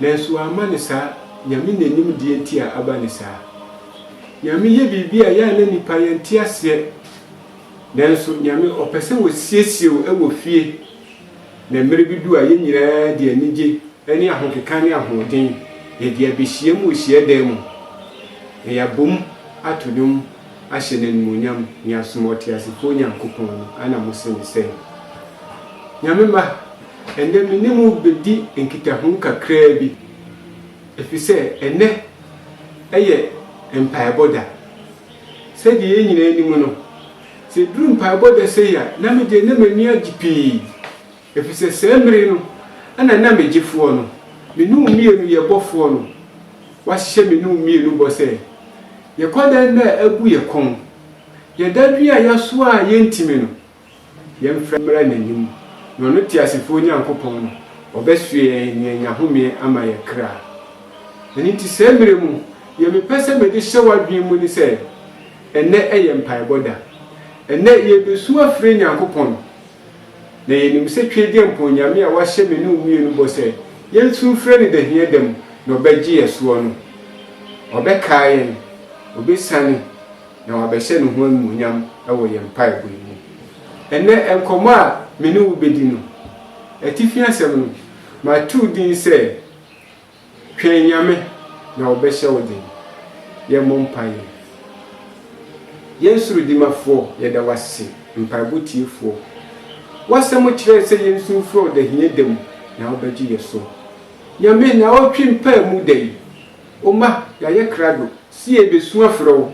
Nanso wamma no saa, Nyame nanim deɛ nti a aba no saa. Nyame yɛ biribi a yɛ a na nnipa yɛnte aseɛ, nanso Nyame ɔpɛ sɛ wɔsiesie wo wɔ fie, na mmerɛ bi du a yɛn nyinaa de anigye ne ahokeka ne ahoɔden yɛde abɛhyiam wɔ hyiadan mu, na yɛabom ato dwom ahyɛ no animuonyam ne asom ɔteasefoɔ Nyankopɔn no, ana mose ne sɛn? Nyame mma! Ɛnnɛ me ne mo bedi nkitaho kakraa bi, efisɛ ɛnnɛ yɛ mpaebɔ da. Sɛnea yɛn nyinaa nim no, sɛ eduru mpaebɔ da sei a, na me deɛ na m'ani agye pii, efisɛ saa mmere no na na me Gyefoɔ no, me ne wo mmienu yɛ Bɔfoɔ no, wahyɛ me ne wo mmienu bɔ sɛ, Yɛkɔda nna a abu yɛn kɔn, yɛda dwen a yɛasoa a yɛrentumi no, Yɛmfrɛ mmra n'anim, na ɔno teasefoɔ Nyankopɔn no, ɔbɛsoɛ yɛn na yɛanya homeɛ ama yɛn kra. Ɛno nti saa mmerɛ mu, deɛ mepɛ sɛ mede hyɛ w'adwene mu ne sɛ, ɛnnɛ yɛ mpaebɔ da. Ɛnnɛ yɛrebɛsu afrɛ Nyankopɔn, na yɛnim sɛ Twedeɛmpɔn Nyame a wahyɛ me ne wo mmienu bɔ sɛ yɛnsu mfrɛ no dahia da mu na ɔbɛgye yɛn soɔ no, ɔbɛkae yɛn, ɔbɛsiane, na wabɛhyɛ ne ho anuonyam wɔ yɛn mpaebɔ yi mu. Ɛnnɛ nkɔmmɔ a me ne wo bedi no, atifi asɛm no, matoo din sɛ, Twɛn Nyame, na Ɔbɛhyɛ Wo Den. Yɛmmɔ mpae. Yɛn Soro Dimafoɔ, yɛda wo ase, mpaebɔ tiefoɔ. W'asɛm kyerɛɛ sɛ yɛnsu mfrɛ wo da hia da mu, na wobɛgye yɛn so. Nyame, nnawɔtwe mpaamu da yi, O mma, yɛayɛ krado sɛ yɛrebesu afrɛ wo,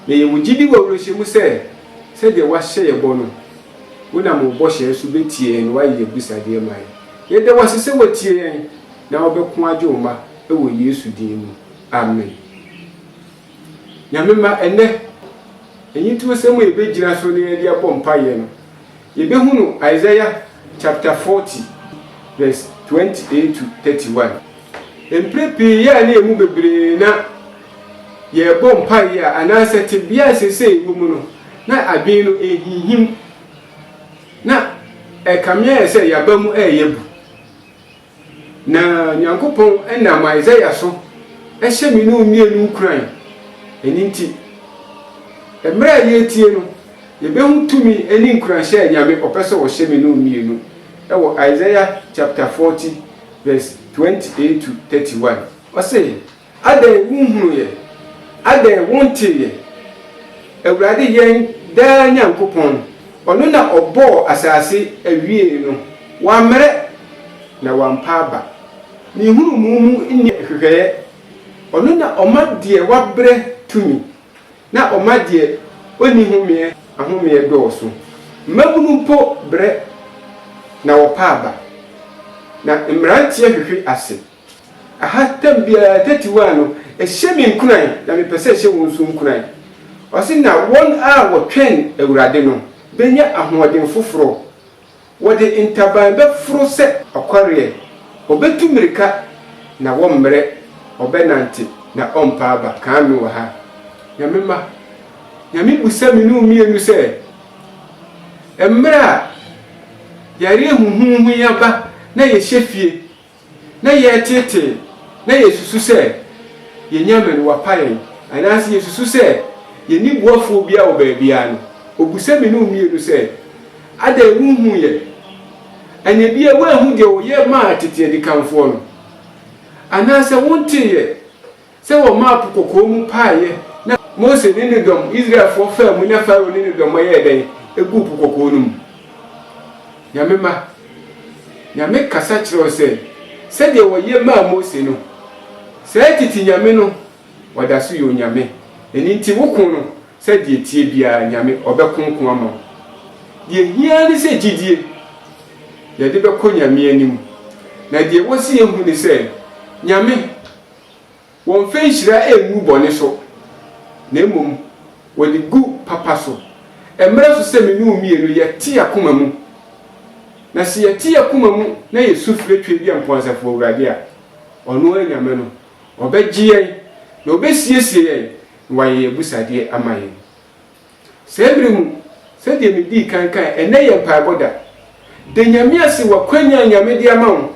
na yɛwɔ gyidi wɔ awerɛhyɛ mu sɛ, sɛdeɛ woahyɛ yɛn bɔ no, wonam wo bɔhyɛ so bɛtie yɛn na woayɛ yɛn abisadeɛ ma yɛn. Yɛda wo ase sɛ woatie yɛn na wobɛko agye wo mma wɔ Yesu din mu. Amen. Nyame mma, ɛnnɛ, anyintuosɛm a yɛbɛgyina so na yɛde abɔ mpaeɛ no, yɛbɛhunu Isaiah chapter 40 verse 28 to 31. Mprɛ pii yɛ a na yɛn mu bebree na yɛrebɔ mpaeɛ a, anaasɛ tebea a seesei yɛwɔ mu no, na adwene no ɛrehinhim, na ɛkame ayɛ sɛ yɛn aba mu reyɛ bu. Na Nyankopɔn nam Isaiah so hyɛ me ne wo mmienu nkuran. Ɛno nti, mmerɛ a yɛretie no, yɛbɛhu tumi ne nkuranhyɛ a Nyame ɔpɛ sɛ ɔhyɛ me ne wo mmienu wɔ Isaiah chapter 40 verse 28 to 31. Ɔse. Adɛn wonhunuuɛ? Adɛn wonteeɛ? Awurade yɛn daa Nyankopɔn, ɔno na ɔbɔɔ asase awiee no, wammrɛ, na wampa aba, ne nhunumu mu nni nhwehwɛeɛ, ɔno na ɔma deɛ wabrɛ tumi, na ɔma deɛ ɔnni homeɛ ahomeɛ dɔɔso. Mmabunu mpo brɛ, na wɔpa aba, na mmeranteɛ hwehwe ase. Aha tam biara thirty one no ɛhyɛ me nkuran na mepɛ sɛ ɛhyɛ wo nso nkuran. Ɔse na wɔn a wɔtwɛn Awurade no bɛnya ahoɔden foforɔ, wɔde ntaban bɛforo sɛ ɔkɔreɛ, wɔbɛtu mmirika na wɔmmrɛ, wɔbɛnante na ɔmpa aba. Kan me wɔ ha. Nyame mma, Nyame bisa me ne wo mmienu sɛ, mmerɛ a yareɛ huhuuhu yi aba na yɛhyɛ fie, na yɛreteetee na yɛresusu sɛ yɛanya mmɛn, wɔapa yɛn, anaasɛ yɛresusu sɛ yɛnni boafoɔ biara wɔ baabiara no, ɔbisa me ne wo mmienu sɛ, Adɛn, wonhuu yɛn? Ɛnna ebia woanhu deɛ wɔyɛ maa tete adikanfoɔ no, anaasɛ wontee yɛn. Sɛ wɔmaa Po Kɔkɔɔ mu paeɛ na. Mose ne ne dɔm, Israelfoɔ, faa mu na Farao ne ne dɔm yɛɛ dɛn? Ɛguu Po Kɔkɔɔ no mu. Nyame mma, Nyame kasa kyerɛ wo sɛ, sɛdeɛ wɔyɛ maa Mose no, saa tete Nyame no, Wada so yɛ Onyame. Ɛno nti wo ko no, sɛdeɛ ɛteɛ biara, Nyame, Ɔbɛko ko ama wo. Deɛ ɛhia ara ne sɛ gyidie, yɛde bɛkɔ Nyame anim. Na deɛ ɛwɔ sɛ yɛhu ne sɛ, Nyame. Wɔmfa nhyira ngu bɔne so, na mmom wɔde gu papa so. Ɛmmra so sɛ me ne wo mmienu yɛte yɛn akoma mu. Na sɛ yɛte yɛn akoma mu na yɛsu frɛ Tweaduampɔn Asafo Awurade a, ɔno ara Nyame no, ɔbɛgye yɛn, na ɔbɛsiesie yɛn, na wayɛ yɛn abusuadeɛ ama yɛn. Saa bere mu, sɛdeɛ medii kan kae, ɛnnɛ yɛ mpaebɔ da. Da Nyame ase wɔ akwanya a Nyame de ama wo.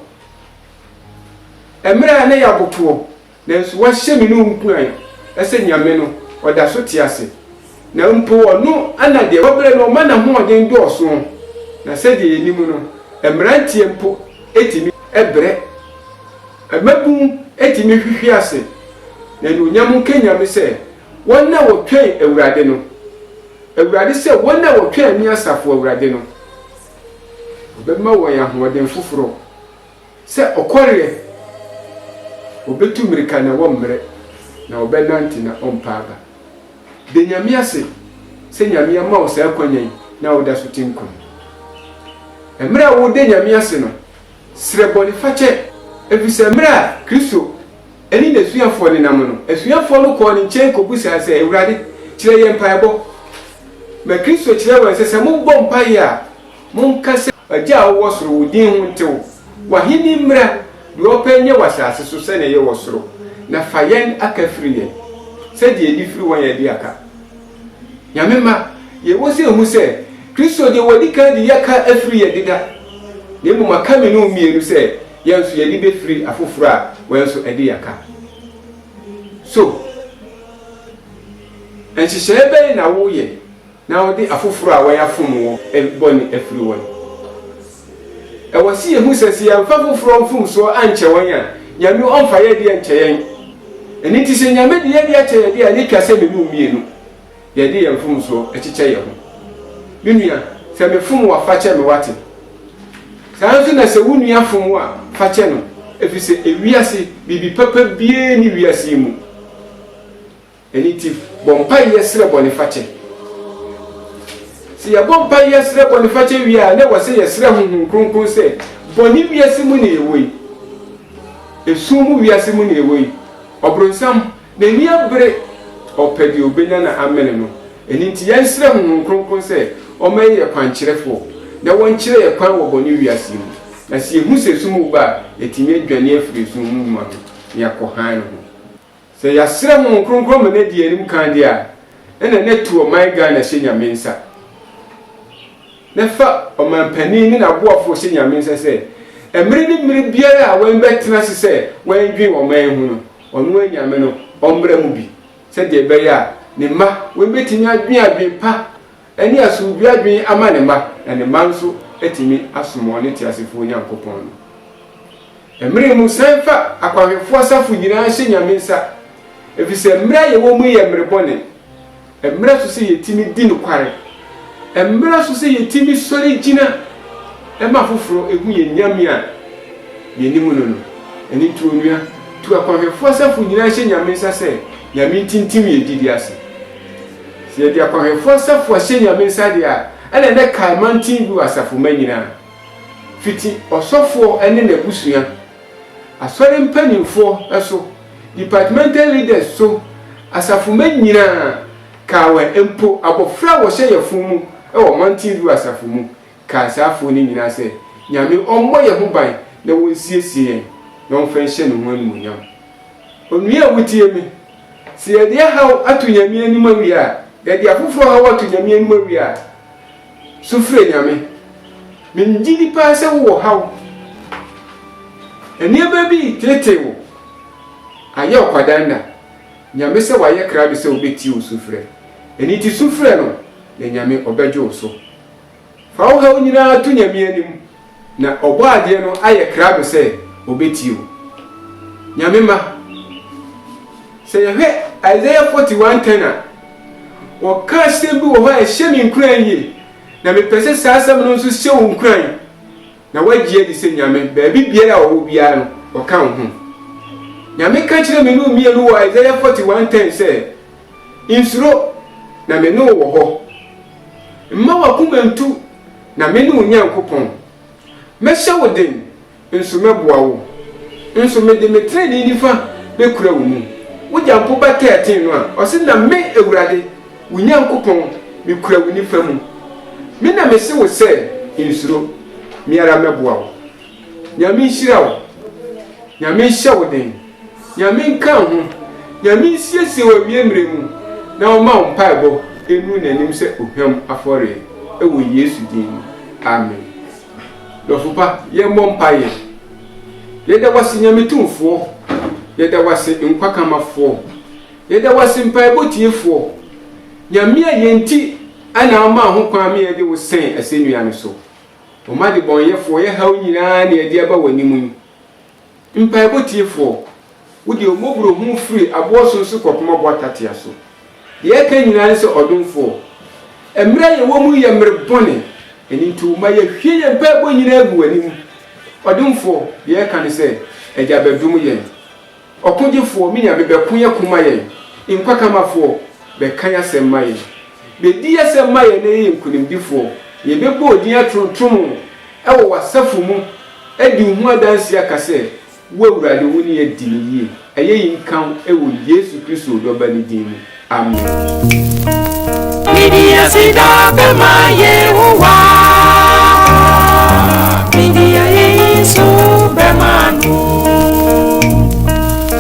Ɛmerɛ a na ɛyɛ abotoɔ, nanso woahyɛ me ne wo nkuran sɛ Nyame no ɔda so te ase, na mpo ɔno na deɛ wabrɛ no ɔma n'ahoɔden dɔɔso, na sɛdeɛ yɛnim no, mmeranteɛ mpo tumi brɛ, mmabunu tumi hwehwe ase, na anuonyam nka Nyame sɛ Wɔn a wɔtwɛn Awurade no. Awurade sɛ, Wɔn a wɔtwɛn me Asafo Awurade no, ɔbɛma wɔn ahoɔden foforɔ, sɛ ɔkɔreɛ, wɔbɛtu mmirika na wɔmmrɛ, na wɔbɛnante na ɔmpa aba. Da Nyame ase sɛ Nyame ama wo saa akwanya yi na woda so te nkwa mu. Mmerɛ a woreda Nyame ase no, srɛ bɔnefakyɛ, ɛfiri sɛ mmerɛ a Kristo. ne n'asuafoɔ nenam no, asuafoɔ no kɔɔ ne nkyɛn kɔbisaa sɛ, Awurade, kyerɛ yɛn mpaebɔ. Na Kristo kyerɛɛ wɔn sɛ, Sɛ mobɔ mpaeɛ a, monka sɛ. Agya a wowɔ soro, wo din ho ntew. W'ahenni mmra. Deɛ ɔpɛ nyɛ wɔ asase so sɛdeɛ ɛyɛ wɔ soro. Na fa yɛn aka firi yɛn, sɛdeɛ yɛde firi wɔn a yɛde aka. Nyame mma, deɛ ɛwɔ sɛ ɛhu sɛ, Kristo deɛ wɔadi kan de yɛaka afiri yɛn deda, na mmom aka me ne wo mmienu sɛ. Yɛn nso yɛn ani befiri afoforo a wɔn nso adi yɛn ka so. Nhyehyɛe bɛn na woyɛ na wode afoforo a wɔafom wo bɔne afiri wɔn? Ɛwɔ sɛ yehu sɛ sɛ yɛamfa afoforo mfomso ankyɛ wɔn a, Nyame remfa yɛn de ankyɛ yɛn. Ɛno nti sɛ Nyame de yɛn de akyɛ yɛn de a, na etwa sɛ menu mmienu. yɛde yɛn mfomsoɔ kyekyɛ yɛn ho. Me nua, sɛ mefom wo a, fa kyɛ me, woate? Saa ara nso na sɛ wo nua fom wo a, fa kyɛ no, ɛfiri sɛ ewiase, biribi papa biara nni wiase yi mu. Ɛno nti, bɔ mpaeɛ srɛ bɔnefakyɛ. Sɛ yɛbɔ mpaeɛ srɛ bɔnefakyɛ wie a, na ɛwɔ sɛ yɛsrɛ Honhom Kronkron sɛ, Bɔne wiase mu na yɛwɔ yi. Esum mu wiase mu na yɛwɔ yi. Ɔbronsam N'ani abere, ɔpɛ deɛ ɔbɛnya na amene no. Ɛno nti yɛresrɛ Honhom Kronkron sɛ ɔmma yɛyɛ kwankyerɛfoɔ na wɔnkyerɛ yɛn kwan wɔ bɔne wiase yi mu. Na sɛ yɛhu sɛ sum reba a, yɛatumi adwane afiri esum ho nnwuma ho na yɛakɔ hann ho. Sɛ yɛasrɛ Honhom Kronkron ma no adi yɛn anim kan deɛ a, ɛnna na tu ɔman Ghana hyɛ Nyame nsa, na fa ɔmanpanin ne n'aboafoɔ hyɛ Nyame nsa sɛ mmere ne mmere biara a wɔbɛtena ase sɛ wɔdwen ɔman ho no, Ɔno anyame no ɔmmra mu bi, sɛdeɛ ɛbɛyɛ a ne mma wei bɛtumi adwene adwene pa ne asomdwoeɛ adwene ama ne mma, na ne mma nso atumi asom wɔn teasefoɔ Onyankopɔn no. Mmere mu san fa akwanhwɛfoɔ asafo nyinaa hyɛ Nyame nsa, ɛfiri sɛ mmerɛ a yɛwɔ mu yi yɛ mmere bɔne. Ɛmmra so sɛ yɛtumi di nokware. Ɛmmra so sɛ yɛtumi sɔre gyina ma afoforɔ hu yɛn Nyame a yɛnim no no. Ɛno nti onua, tu akwanhwɛfoɔ asafo nyinaa hyɛ Nyame nsa sɛ Nyame ntintim yɛn gyidie ase. Sɛ yɛde akwanhwɛfoɔ asafo ahyɛ Nyame nsa deɛ a, ɛna ɛnɛ kae mantin bi wɔ asafomma nyinaa, fiti ɔsɔfoɔ ne n'abusua Asɔre mpanimfoɔ so, departmental leaders so, asafomma nyinaa, Kawa mpo, abɔfra a wɔhyɛ yafunu mu wɔ Mountain View Asafo mu, kaa saa afoɔ no nyinaa sɛ, Nyame ɔmmɔ yɛn ho ban na wɔnsiesie yɛn na ɔmfa nhyɛ Ne ho animuonyam. Onua a wotie me, sɛ yɛde ɛhaw ato Nyame anim awie a, yɛde afoforɔ haw ato Nyame anim awie a, Su frɛ Nyame. Mennye di paa sɛ wowɔ haw. Nneɛma bi reteetee wo. Ayɛ ɔkwadanda. Nyame sɛ wayɛ krado sɛ obetie wo sufrɛ. Ɛno nti su frɛ No na Nyame ɔbɛgye wo so. Fa wo haw nyinaa to Nyame anim Na Ɔbɔadeɛ no ayɛ krado sɛ ɔbɛtie wo. Nyame mma. Sɛ yɛhwɛ Isaiah 41 10 a, wɔka asɛm bi wɔ hɔ a ɛhyɛ me nkuran yie, na mepɛ sɛ saa asɛm no nso hyɛ wo nkuran, na woagye adi sɛ Nyame, baabi biara a ɔwɔ biara no, ɔka wo ho. Nyame ka kyerɛɛ me ne wo mmienu wɔ Isaiah 41 10 sɛ, Nsuro, na me ne wo wɔ hɔ. Mma w'akoma ntu. Na mene wo Nyankopɔn. Mɛhyɛ wo den, nso mɛboa wo. Nso mede me trenee nifa bɛkura wo mu. Wogya mpo ba tɛɛten no a, ɔse, Na me, Awurade, wo Nyankopɔn, mekura wo nifa mu. Me na mese wo sɛ, Nsuro. Me ara mɛboa wo. Nyame nhyira wo. Nyame nhyɛ wo den. Nyame nka wo ho. Nyame nsiesie wo awie mmerɛ mu na ɔma wo mpaebɔ nnuru n'anim sɛ ohwam afɔreɛ wɔ Yesu din mu. Amen. Dɔfo pa, yɛmmɔ mpaeɛ. Yɛda wo ase Nyame Tumfoɔ, yɛda wo ase Nkwa Kamafoɔ, yɛda wo ase Mpaebɔ Tiefoɔ, Nyame a yɛn nti na womaa ho kwan ma yɛde wo sɛn asɛnnua no so. Ɔma debɔnyɛfoɔ yɛ haw nyinaa na yɛde aba w'anim yi. Mpaebɔ Tiefoɔ, Wo deɛ Wo mmɔborɔhunu firi aboɔ sonso kɔpem aboɔ atatea so. Deɛ yɛka nyinaa ne sɛ, Ɔdomfoɔ, mmerɛ a yɛwɔ mu yi yɛ mmerɛ bɔne, ɛno nti Wo ma yɛhwie yɛn mpaebɔ nyinaa gu W'anim. Ɔdomfoɔ, deɛ yɛka ne sɛ, Agya bɛdom yɛn. Ɔkogyefoɔ, me Nyame, bɛko yɛn ko ma yɛn. Nkwakamafoɔ, bɛka yɛn asɛm ma yɛn. Bɛdi yɛn asɛm ma yɛn na yɛyɛ nkunimdifoɔ, na yɛbɛbɔ Wo din atontom. Wɔ w'asafo mu, di wo ho adanse a ka sɛ, Wo Awurade, wo ne adi no yie. Ayeyi nka wo wɔ Yesu Kristo wo Dɔba no din mu. Amen. Midi aseda bɛma Yehowa, midi ayeyi nso bɛma no.